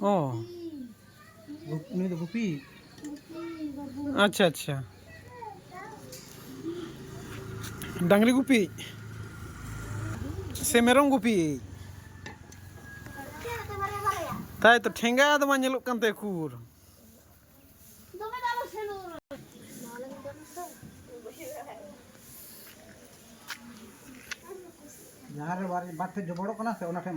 ᱚ ᱱᱩᱭ ᱫᱚ ᱜᱩᱯᱤ ᱟᱪᱪᱷᱟ ᱟᱪᱪᱷᱟ ᱰᱟᱝᱨᱤ ᱜᱩᱯᱤ ᱥᱮ ᱢᱮᱨᱚᱢ ᱜᱩᱯᱤ ᱛᱟᱭ ᱛᱚ ᱴᱷᱮᱸᱜᱟ ᱫᱚ ᱵᱟᱝ ᱧᱮᱞᱚᱜ ᱠᱟᱱ ᱛᱟᱭᱟ ᱩᱠᱩᱨ ᱡᱟᱦᱟᱸ ᱨᱮ ᱵᱟᱨ ᱴᱷᱮᱡ ᱡᱚᱵᱚᱲᱚᱜ ᱠᱟᱱᱟ ᱥᱮ ᱚᱱᱟ ᱴᱷᱮᱡ